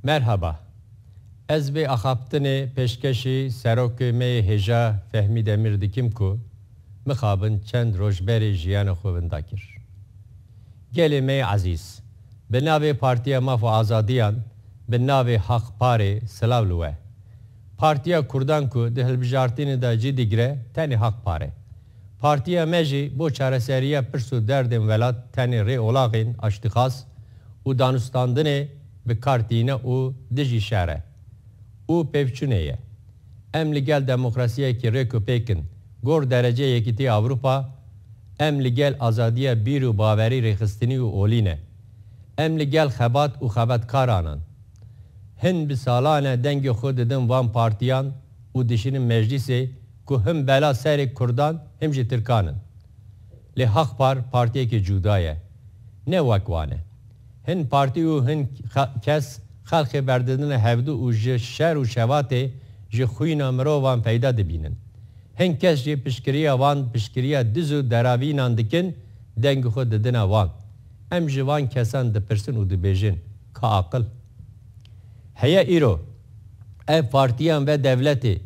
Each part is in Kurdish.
Merhaba. Ez vê axaftinê pêşkeşî serokê me yê hêja Fehmî Demîr dikim ku mixabin çend roj berê jiyana xwe winda kir. Gelê me yê ezîz, bi navê Partiya Maf û Azadiyan, bi navê Haq Parê silav li we. Partiya Kurdan ku di hilbijartînê de cî digire tenê haq par e. Partiya me jî bo çareseriya pirs û derdên welat tenê rê olaxên aştîxas û danûstandinê bi kar tîne û dijî şer e û pêvçûnê ye. Em li gel demokrasiyekî rêk û pêk in. Gor derecê Yekîtî Ewropa em li gel azadiya bîr û bawerî rêxistinî û olî ne. Em li gel xebat û xebatkaran in. Hin bi salan e dengê xwe didin van partiyan û dişînin meclîsê ku him bela serê kurdan him jî tirkan in. Lê Haqpar partiyekî cuda ye. Ne wek wan e. Hin partî û hin kes xelkê berdidine hevdu û ji şer û şevatê ji xwîna mirovan feyda dibînin. Hin kes jî piştgiriya van piştgiriya diz û deravînan dikin dengê xwe didine wan. Em ji van kesan dipirsin û dibêjin, Ka aqil heye îro? Ev partiyan ve dewletê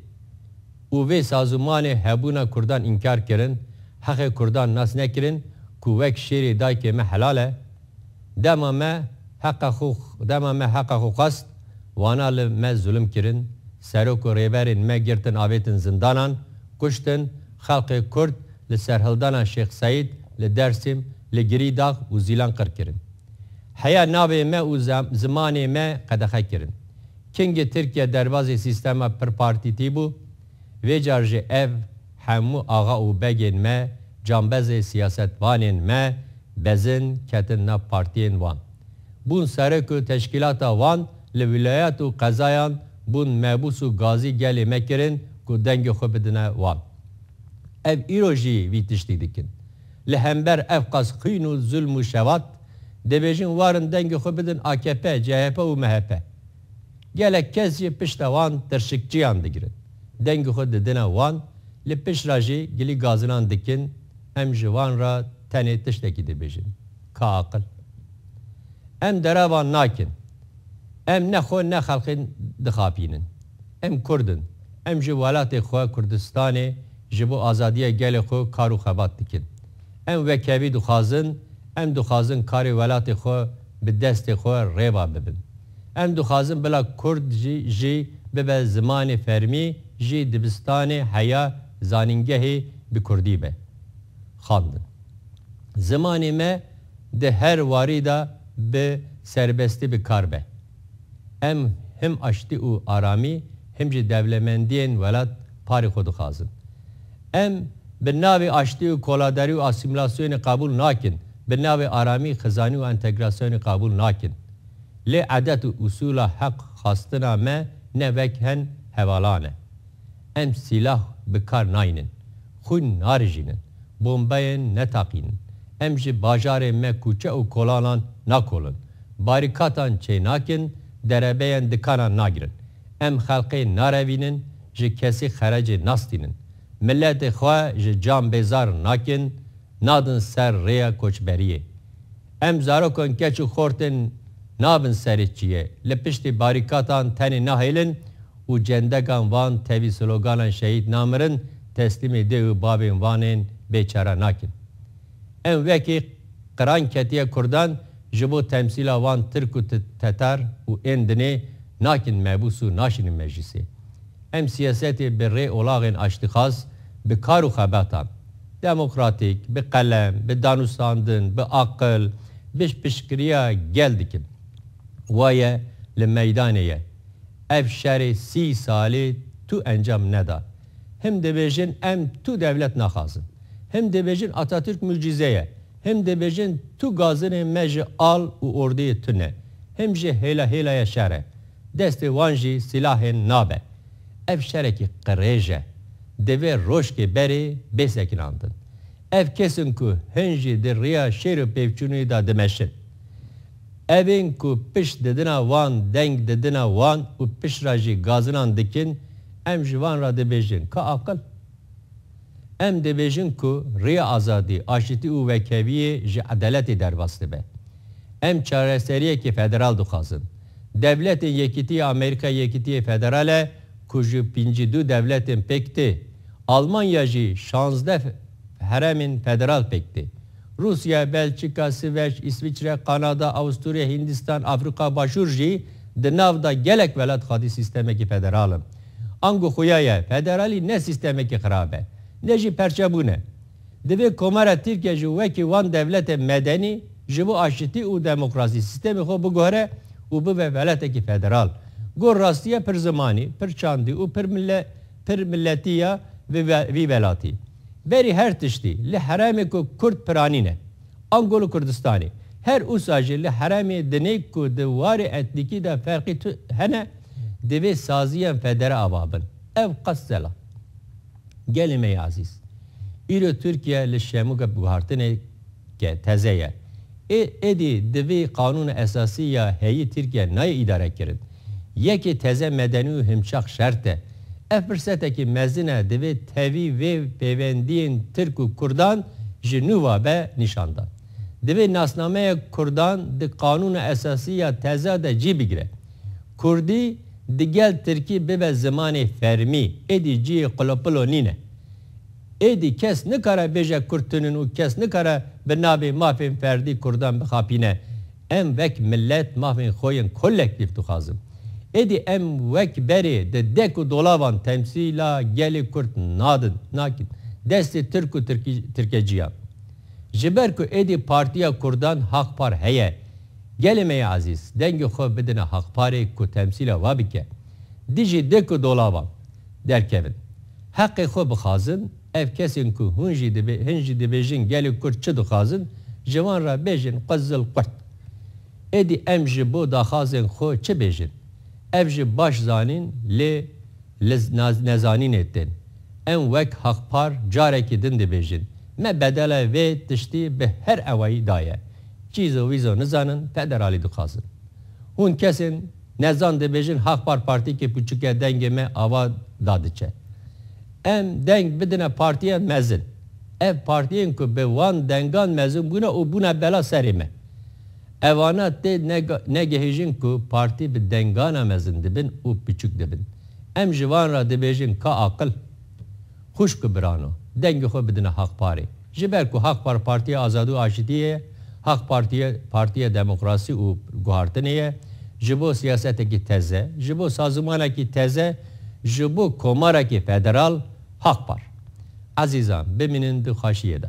û vê sazûmanê hebûna kurdan înkar kirin, heqê kurdan nas nekirin ku wek şêrê dayikê me helal e? Dema me heqa xwe dema me heqa xwe xwest, wana li me zulm kirin, serok û rêberên me girtin avêtin zindanan, kuştin, Xelkê Kurd li serhildana Şêx Seîd li Dersîm, li Girîdax û Zîlan qir kirin. Heya navê me û zimanê me qedexe kirin. Kingê Tirkiye derbazê sîstema pirpartîtî bû, vê car jî ev hemû axa û begên me, cambezê siyasetvanên me bezin ketin nav partiyên wan. bûn serok û teşkîlata wan li wîlayet û qezayan bûn mebûs û gazî gelê me kirin ku dengê xwe bidine wan. Ev îro jî vî tiştî dikin. Li hember ev qas xwîn û zulm û şevat, dibêjin warin dengê xwe bidin akp, chp û mhp. Gelek kes jî pişta wan tirşikçiyan digirin, dengê xwe didine wan, li pişt re jî gilî gazinan dikin, em ji wan re tenê tiştekî dibêjin. ka aqil. Em derevan nakin. Em ne xwe ne xelkê dixapînin. Em Kurd in. Em ji welatê xwe Kurdistanê ji bo azadiya gelê xwe kar û xebat dikin. Em wekevî dixwazin, em dixwazin karê welatê xwe bi destê xwe rêva bibin. Em dixwazin bila Kurd jî bibe zimanê fermî, jî dibistanê, heya, zanîngehê bi Kurdî be. xandin. Zimanê me di her warî de bi serbestî bi kar be. Em him aştî û aramî him jî dewlemendiyên welat parê xwe dixwazin. Em bi navê aştî û koladarî û asîmîlasyonê qebûl nakin, bi navê aramî, xizanî û entegrasyonê qebûl nakin. Lê edet û usûla heq xwastina me ne wek hen hevalan e. Em sîlah bi kar nayînin, xwîn narijînin, bombeyên netaqînin, em ji bajarên me kûçe û kolanan nakolin, barîkatan çênakin, derebeyên dikanan nagirin. Em xelkê narevînin, ji kesî xerecê nastînin. Miletê xwe ji can bêzar nakin, nadin ser rêya koçberiyê. Em zarokan keç û xort in, nabin serê çiyê. Li piştî barîkatan tenê nahêlin û cendegan van tevî sloganan şehîd namirin, teslîmê dê û bavên van ên bêçare nakin. Em wekî qiran ketiye kurdan ji bo temsîla van tirk û tetar û ên dinê nakin mebûs û naşînin meclîsê. Em sîyasetê bi rê olaxên aştîxwaz, bi kar û xebetan, demokratîk, bi qelem, bi danûstandin, bi aqil, bi piştgiriya gel dikin. Waye li meydanê ye. Ev şerê sî salî tu encam neda. Him dibêjin em tu dewlet naxwazin. Him dibêjin Atatürk mucîze ye. Him dibêjin tu gazinên me ji al û ordeyê tu ne. Him jî hêla hêlaya şer e. Destê wan jî silahên nabe. Ev şerekî qirêj e. Divê roşkê berê bê sekinandin. Ev kes in ku hin jî di riya şêr û pêvçûnî da dimeşin. Ev ên ku pişt didina wan, deng didina wan û pişt ra jî gazinan dikin, em ji van ra dibêjin, Ka aqil? Em dibêjin ku rêya azadî, aşitî û wekheviyê ji edaletê derbas dibe. Em çareseriyekê federal dixwazin. Dewletên Yekîtî ya Amerîka yekîtiyê federal e ku ji pêncî du dewletên pêk tê. Almanya jî şazdeh heremên federal pêk tê. Rûsya, Belçîka, Siveç, Îsviçre, Kanada, Awusturya, Hîndistan, Afrîka Başûr jî di nav de gelek welat xwedî sîstemekî federal in. Ango xuya ye, federalî ne sîstemekî xirab e, ne jî perçebûn e. Divê Komara Tirkiye jî wekî wan dewletên medenî ji bo aşitî û demokrasî sîstemê xwe biguhere û bibe welatekî federal. Got rastiye pir zimanî, pir çandî û pir pir milletî ya vî welatî. Berî her tiştî, li herêmê ku Kurd piranî ne, ango li Kurdistanê, her usa jî li herêmê dinê ku di warê etnîkî de ferqî tu hene, divê saziyên federe ava bin. Ev qas zela. Gelê me yê ezîz. Îro Tirkiye li Şemûge bi guhartinê. ke teze ye. Ê êdî di vî qanûna esasî ya heyî Tirkiye nayê îdare kirin. Yekê teze medenî û himçax şert e. Ev firsetekî mezin e divê tevî vê pêwendiyên Tirk û Kurdan ji nû ve be nîşan dan. Divê nasnameya Kurdan di qanûna esasî ya teze de cî bigire. Kurdî digel Tirkî bibe zimanê fermî, êdî ciyê qulopilo nîne. Êdî kes nikare bêje kurd tunin û kes nikare bi navê mafên ferdî kurdan bixapîne. Em wek milet mafên xwe yên kolektîf dixwazin. Êdî em wek berê di dek û dolavan temsîla gelê kurd nadin, nakin destê tirk û tirkeciyan. Ji ber ku êdî partiya kurdan Haqpar heye. Gelê me yê ezîz dengê xwe bidine Haqparê ku temsîla we bike. Dijî dik û dolavan derkevin. Heqê xwe bixwazin, ev kesên ku hûn jî dibê hin jî dibêjin gelê Kurd çi dixwazin, ji wan re bêjin xwe zil qurt. Êdî em ji bo daxwazên xwe çi bêjin? Ev jî baş zanîn lê li nezanînê tên. Em wek Haqpar carekî din dibêjin, me bedela vê tiştî bi her ewayî daye. Cîzo wîzo nizanin federalî dixwazin. Hûn kesên. Nezan dibêjin Haxpar partîkê pûçik e dengê me ava da diçe. Em deng bidine partiyên mezin. Ev partiyên ku bi wan dengan mezin bûne û bûne bela serê me. Evane tê negehîjin ku partî bi dengana mezin dibin û pûçik dibin. Em ji van re dibêjin ka aqil Xwişk û birano, dengê xwe bidine Haq Parê. Ji ber ku Haq Par Partiya Azadî û Aşitiyê ye, Haq Partî partiya demokrasî û guhartinê ye, ji bo siyasetekî teze, ji bo sazûmanekî teze, ji bo komarekî federal, Haq Par. Ezîzan, bimînin di xaşiyê de.